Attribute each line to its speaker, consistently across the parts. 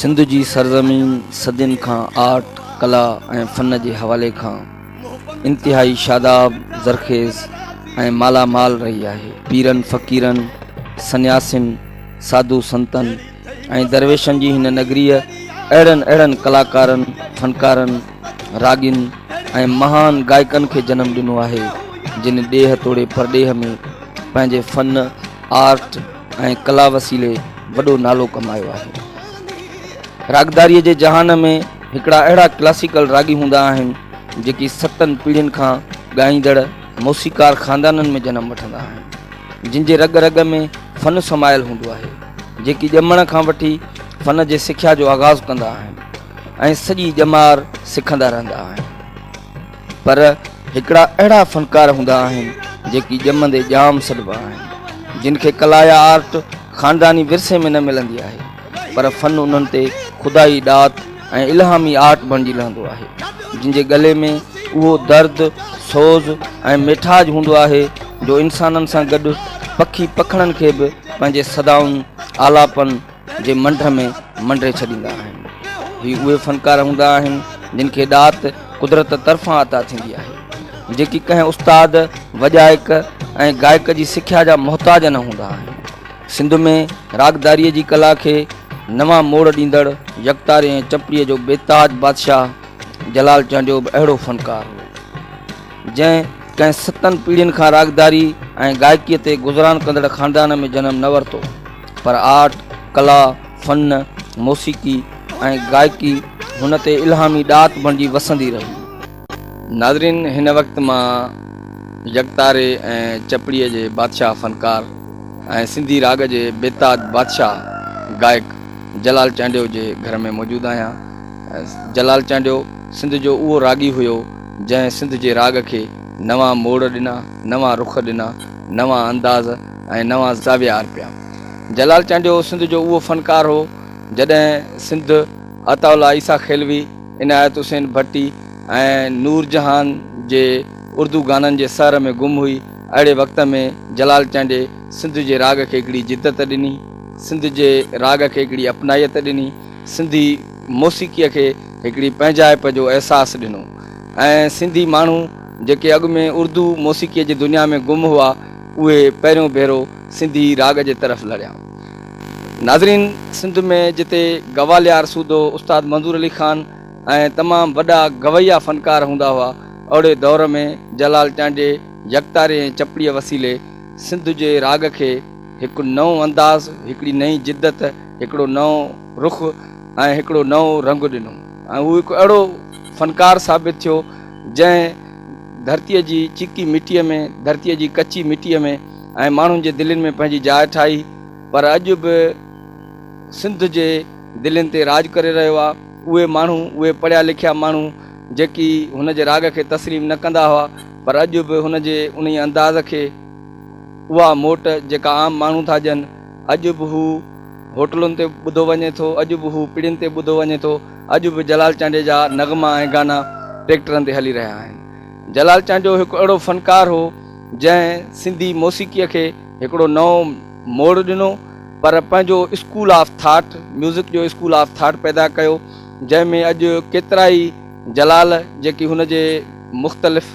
Speaker 1: سنڌ
Speaker 2: جي سرزمين صدين کان آرٽ، ڪلا ۽ فن جي حوالي کان انتهائي شاداب، زرخيز ۽ مالا مال رهي آهي. پيرن، فقيرن، سنياسين، ساڌو سنتن ۽ درويشن جي هن نگريء اهڙن اهڙن ڪلاڪارن، فنڪارن، راڳين ۽ مهان گائڪن کي جنم ڏنو آهي، جن ڏيهه توڙي پرڏيهه ۾ پنهنجي فن، آرٽ، ۽ ڪلا وسيلي وڏو نالو ڪمايو آهي. راڳداريء جي جهان ۾ هڪڙا اهڙا ڪلاسيڪل راڳي هوندا آهن، جيڪي ستن پيڙهين کان ڳائيندڙ موسيقار خاندانن ۾ جنم وٺندا آهن، جن جي رڳ رڳ ۾ فن سمايل هوندو آهي، جيڪي ڄمڻ کان وٺي فن جي سکيا جو آغاز ڪندا آهن ۽ سڄي ڄمار سکندا رهندا آهن. پر هڪڙا اهڙا فنڪار هوندا آهن جيڪي ڄمندي ڄام سڏبا آهن جن کي ڪلا يا آرٽ خانداني ورثي ۾ نه ملندي آهي پر فن انهن تي خدائي ڏات ۽ الهامي آرٽ بڻجي لهندو آهي جن جي ڳلي ۾ اهو درد سوز ۽ ميٺاج هوندو آهي جو انسانن سان گڏ پکي پکڻن کي به پنهنجي صدائن آلاپن جي منڍ ۾ منڍي ڇڏيندا آهن هي اهي فنڪار هوندا آهن جن کي ڏات قدرت طرفان عطا ٿيندي آهي جيڪي ڪنهن استاد وڄائڪ ۽ گائڪ جي سکيا جا محتاج نه هوندا آهن سنڌ ۾ راڳداريء جي ڪلا کي نوان موڙ ڏيندڙ يڪتاري ۽ چپڙيء جو بيتاج بادشاهه جلال چانڊيو به اهڙو فنڪار هو جنهن ڪنهن ستن پيڙهين کان راڳداري ۽ گائڪيء تي گذران ڪندڙ خاندان ۾ جنم نه ورتو پر آرٽ، ڪلا، فن، موسيقي ۽ گائڪي هن تي الهامي ڏات بڻجي وسندي رهي. ناظرين هن وقت مان يڪتاري ۽ چپڙي جي بادشاهه فنڪار ۽ سنڌي راڳ جي بيتاج بادشاهه گائڪ جلال چانڊيو جي گهر ۾ موجود آهيان. جلال چانڊيو سنڌ جو اهو راڳي هيو جنهن سنڌ جي راڳ کي نوان موڙ ڏنا، نوان رخ ڏنا، نوان انداز، ۽ نوان زاويا آر پيا. جلال چانڊيو سنڌ جو اهو فنڪار هو، جڏهن سنڌ عطاء الله عيسيٰ خيلوي، عنايت حسين ڀٽي ۽ نور جهان جي اردو گانن جي سحر ۾ گم هئي، اهڙي وقت ۾ جلال چانڊي سنڌ جي راڳ کي هڪڙي جدت ڏني، سنڌ جي راڳ کي هڪڙي اپنائيت ڏني، سنڌي موسيقيء کي هڪڙي پنهنجائپ جو احساس ڏنو ۽ سنڌي ماڻهو جيڪي اڳ ۾ اردو موسيقيء جي دنيا ۾ گم هئا، اهي پهريون ڀيرو سنڌي راڳ جي طرف لڙيا. ناظرين! سنڌ ۾ جتي گواليار سوڌو استاد منظور علي خان ۽ تمام وڏا گويا فنڪار هوندا هئا، اهڙي دور ۾ جلال چانڊيي يڪتاري ۽ چپڙيء وسيلي سنڌ جي راڳ کي هڪ نئون انداز، هڪڙي نئين جدت، هڪڙو نئون رخ ۽ هڪڙو نئون رنگ ڏنو ۽ هو هڪ اهڙو فنڪار ثابت ٿيو، جنهن ڌرتيء جي چيڪي مٽيء ۾ ڌرتيء جي ڪچي مٽيء ۾ ۽ ماڻهن جي دلين ۾ پنهنجي جاء ٺاهي پر اڄ به سنڌ جي دلين تي راڄ ڪري رهيو آ اهي ماڻهو اهي پڙهيا لکيا ماڻهو جيڪي هن جي راڳ کي تسليم نه ڪندا هئا پر اڄ به هن جي انهي انداز کي اها موٽ جيڪا عام ماڻهو ٿا ڏين اڄ به هو هوٽلن تي ٻڌو وڃي ٿو اڄ به هو پڙين تي ٻڌو وڃي ٿو. اڄ به جلال چانڊيي جا نغما ۽ گانا ٽريڪٽرن تي هلي رهيا آهن. جلال چانڊيو هڪ اهڙو فنڪار هو، جنهن سنڌي موسيقيء کي هڪڙو نئون موڙ ڏنو، پر پنهنجو اسڪول آف ٿاٽ، ميوزڪ جو اسڪول آف ٿاٽ پيدا ڪيو، جنهن ۾ اڄ ڪيترائي جلال جيڪي هن جي مختلف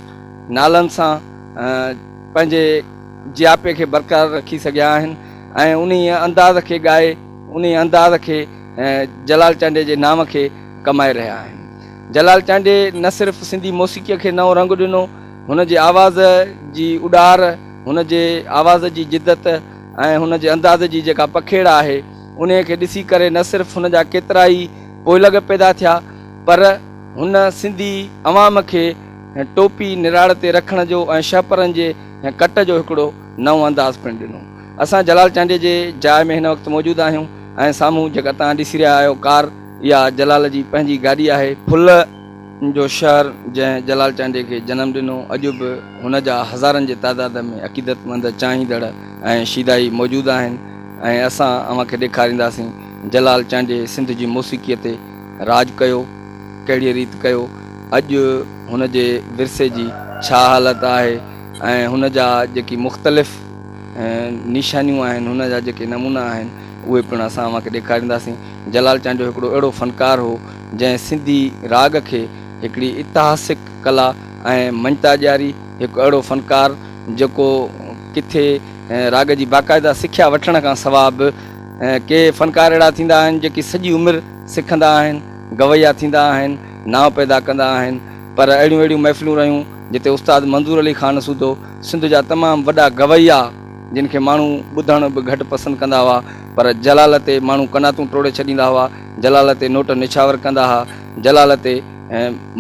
Speaker 2: نالن سان پنهنجي جياپي کي برقرار رکي سگهيا آهن ۽ انهيء انداز کي ڳائي، انهيء انداز کي. ۽ جلال چانڊيي جي نانء کي ڪمائي رهيا آهن. جلال چانڊيي نه صرف سنڌي موسيقيء کي نئون رنگ ڏنو، هن جي آواز جي اڏار، هن جي آواز جي جدت ۽ هن جي انداز جي جيڪا پکيڙ آهي، انهيء کي ڏسي ڪري نه صرف هن جا ڪيترائي پوئلڳ پيدا ٿيا، پر هن سنڌي عوام کي ٽوپي نراڙ تي رکڻ جو ۽ شهپرن جي ڪٽ جو هڪڙو نئون انداز پڻ ڏنو. اسان جلال چانڊيي جي جاء ۾ هن وقت موجود آهيون ۽ سامهون جيڪا توهان ڏسي رهيا آهيو ڪار اها جلال جي پنهنجي گاڏي آهي. ڦل جو شهر جنهن جلال چانڊيي کي جنم ڏنو اڄ به هن جا هزارن جي تعداد ۾ عقيدتمند چاهيندڙ ۽ شيدائي موجود آهن ۽ اسان اوهان کي ڏيکارينداسين جلال چانڊيي سنڌ جي موسيقي تي راڄ ڪيو ڪهڙي ريت ڪيو اڄ هن جي ورثي جي ڇا حالت آهي ۽ هن جا جيڪي مختلف نشانيون آهن، هن جا جيڪي نمونا آهن، اهي پڻ اسان اوهان کي ڏيکارينداسين. جلال چانڊيو هڪڙو اهڙو فنڪار هو، جنهن سنڌي راڳ کي هڪڙي اتهاسڪ ڪلا ۽ مڃتا ڏياري. هڪ اهڙو فنڪار، جيڪو ڪٿي راڳ جي باقاعده سکيا وٺڻ کان سواء به، ڪي فنڪار اهڙا ٿيندا آهن، جيڪي سڄي عمر سکندا آهن، گويا ٿيندا آهن، نانء پيدا ڪندا آهن، پر اهڙيون اهڙيون محفلون رهيون، جتي استاد منظور علي خان سوڌو، سنڌ جا تمام وڏا گويا جن کي ماڻهو ٻڌڻ به گهٽ پسند ڪندا هئا پر جلال تي ماڻهو قناتون ٽوڙي ڇڏيندا هئا، جلال تي نوٽ نڇاور ڪندا ها، جلال تي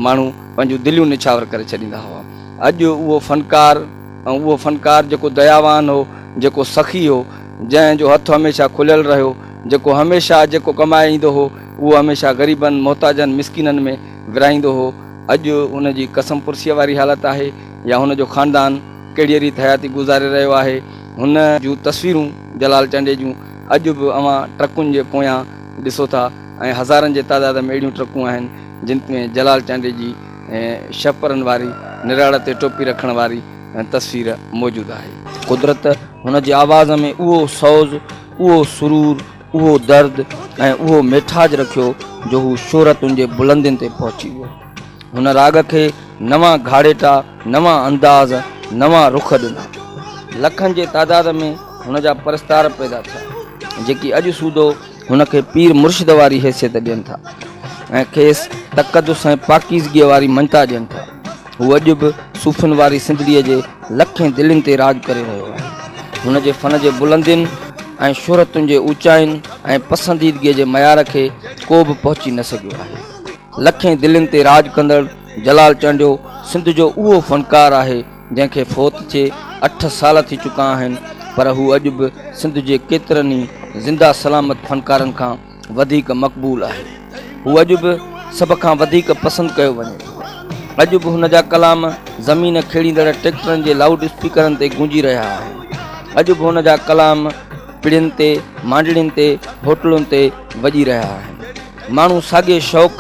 Speaker 2: ماڻهو پنهنجون دليون نڇاور ڪري ڇڏيندا هئا. اڄ اهو فنڪار ۽ اهو فنڪار جيڪو دياوان هو، جيڪو سخي هو، جنهن جو هٿ هميشه کليل رهيو، جيڪو هميشه جيڪو ڪمائي ايندو هو اهو هميشه غريبن، محتاجن، مسڪينن ۾ ورهائيندو هو، اڄ ان جي قسم پرسيء واري حالت آهي. يا هن جو خاندان ڪهڙيء ريت حياتي گذاري رهيو آهي، هن جون تصويرون جلال چانڊيي جون اڄ به اوهان ٽرڪن جي پويان ڏسو ٿا ۽ هزارن جي تعداد ۾ اهڙيون ٽرڪون آهن جن ۾ جلال چانڊيي جي شهپرن واري نراڙ تي ٽوپي رکڻ واري تصوير موجود آهي. قدرت هن جي آواز ۾ اهو سوز، اهو سرور، اهو درد ۽ اهو ميٺاج رکيو جو هو شهرتن جي بلندين تي پهچي ويو. هن راڳ کي نوان گهاڙيٽا، نوان انداز، نوان رخ ڏنا. لکن جي تعداد ۾ هن جا پرستار پيدا ٿيا، جيڪي اڄ سوڌو هن کي پير مرشد واري حيثيت ڏين ٿا ۽ کيس تقدس ۽ پاڪيزگيء واري مڃتا ڏين ٿا. هو اڄ به صوفين واري سنڌڙيء جي لکين دلين تي راڄ ڪري رهيو آهي. هن جي فن جي بلندين ۽ شهرتن جي اوچائين ۽ پسنديدگيء جي معيار کي ڪو به پهچي نه سگهيو آهي. لکين دلين تي راڄ ڪندڙ جلال چانڊيو سنڌ جو اهو فنڪار آهي جنهن کي فوت ٿئي اٺ سال ٿي چڪا آهن پر هو اڄ به سنڌ جي ڪيترن ئي زنده سلامت فنڪارن کان وڌيڪ مقبول آهي هو اڄ به سڀ کان وڌيڪ پسند ڪيو وڃي ٿو اڄ به هن جا ڪلام زمين کيڙيندڙ ٽيڪٽرن جي لائوڊ اسپيڪرن تي گونجي رهيا آهن اڄ به هن جا ڪلام پڙين تي مانڊڻين تي هوٽلن تي وڄي رهيا آهن ماڻهو ساڳئي شوق،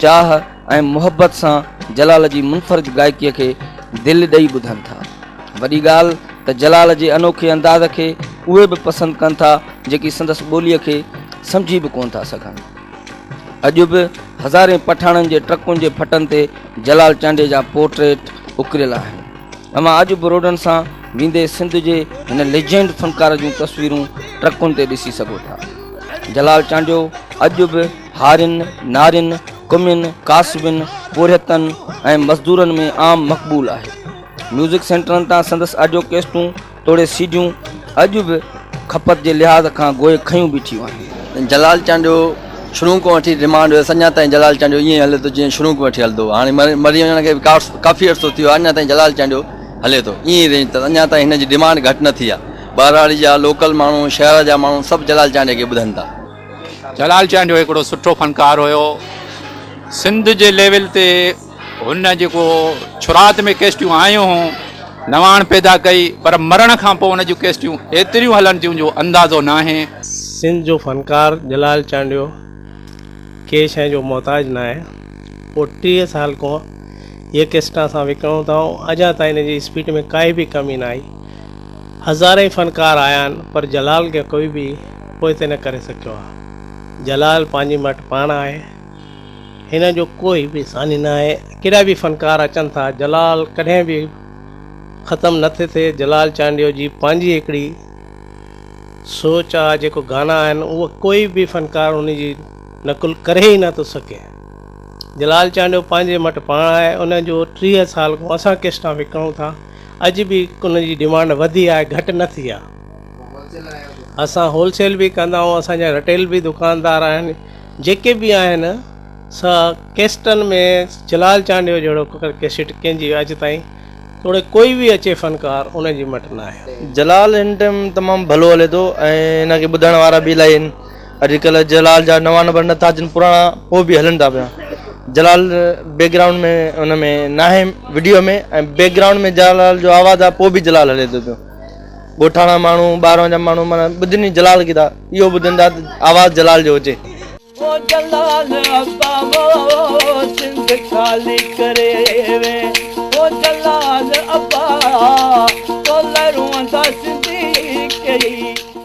Speaker 2: چاهه ۽ محبت سان جلال جي منفرد گائڪيء کي دل ڏئي ٻڌن ٿا. وڏي ڳالهه ته جلال جي انوکي انداز کي اهي به پسند ڪن ٿا جيڪي سندس ٻوليء کي سمجهي به ڪونه ٿا سگهن. اڄ به هزارين پٺاڻن جي ٽرڪن جي ڦٽن تي جلال چانڊيي جا پورٽريٽ اڪريل آهن. اوهان اڄ به روڊن سان ويندي سنڌ جي هن ليجنڊ فنڪار جون تصويرون ٽرڪن تي ڏسي سگهو ٿا. جلال چانڊيو اڄ به هارين، نارين، ڪمين، ڪاسبين، پورهيتن ۽ مزدورن ۾ عام مقبول آهي. ميوزڪ سينٽرن تان سندس آڊيو ڪيسٽون توڙي سي ڊيون اڄ به کپت جي لحاظ کان گوهي کنيون بيٺيون آهن. جلال چانڊيو
Speaker 3: شروع کان وٺي ڊمانڊ هيس. اڃا تائين جلال چانڊيو ائين هلي ٿو جيئن شروع کان وٺي هلندو هو. هاڻي مري وڃڻ کي به ڪافي عرصو ٿي ويو آهي اڃا تائين جلال چانڊيو هلي ٿو. ائين ئي رينج اٿس. اڃا تائين هن جي ڊمانڊ گهٽ نه ٿي آهي. ٻهراڙي جا لوڪل ماڻهو شهر جا ماڻهو سڀ جلال چانڊيي کي ٻڌن ٿا. جلال
Speaker 4: چانڊيو هڪڙو سٺو فنڪار هيو سنڌ جي ليول تي هن جيڪو شرعات ۾ ڪيسٽيون آيون هون نواڻ پيدا ڪئي پر مرڻ کان پو هن جون ڪيسٽيون ايتريون هلن ٿيون جو اندازو ناهي. سنڌ جو
Speaker 5: فنڪار جلال چانڊيو ڪنهن شئي جو محتاج ناهي هو ٽيهه سال کون هيء ڪيسٽان اسان وڪڻون ٿا ۽ اڄان تائين هن جي اسپيٽ ۾ ڪائي به ڪمي نه آئي. هزارين فنڪار آيا آهن پر جلال کي ڪوئي به پوئتي نه ڪري سگهيو آهي. جلال پنهنجي مٽ پاڻ آهي. هن جو ڪوئي به ثاني نه آهي. ڪيڏا به فنڪار اچن ٿا جلال ڪڏهن به ختم نه ٿي ٿئي. جلال چانڊيو جي پنهنجي هڪڙي سوچ آهي جيڪو گانا آهن اهو ڪوئي به فنڪار ان جي نقل ڪري ئي نه ٿو سگهي. جلال چانڊيو پنهنجي مٽ پاڻ آهي. ان جو ٽيهه سال کان اسان ڪيسٽان وڪڻون ٿا. اڄ به ان جي ڊمانڊ وڌي آهي گهٽ نه ٿي آهي اسان هول سيل به ڪندا آهيون اسان جا رٽيل به دڪاندار آهن جيڪي به آهن سا ڪيسٽن ۾ جلال چانڊيو جهڙو ڪيسٽ ڪنهن جي اڄ تائين توڙي ڪوئي به اچي فنڪار ان جي مٽ نه آهي
Speaker 3: جلال
Speaker 5: هن
Speaker 3: ٽائيم تمام ڀلو
Speaker 5: هلي
Speaker 3: ٿو ۽
Speaker 5: هن
Speaker 3: کي ٻڌڻ وارا به الاهي
Speaker 5: آهن
Speaker 3: اڄ
Speaker 6: ڪلهه جلال جا نوان نمبر نه ٿا اچن پراڻا پوء به هلن ٿا پيا جلال بيڪ گرائونڊ ۾ ان ۾ ناهي وڊيو ۾ ۽ بيڪ گرائونڊ ۾ جلال جو آواز آ پوء به جلال هلي ٿو پيو ڳوٺاڻا ماڻهو ٻاهران جا ماڻهو مانا ٻڌن ئي جلال کي ٿا اهو ٻڌن ٿا آواز جلال جو هجي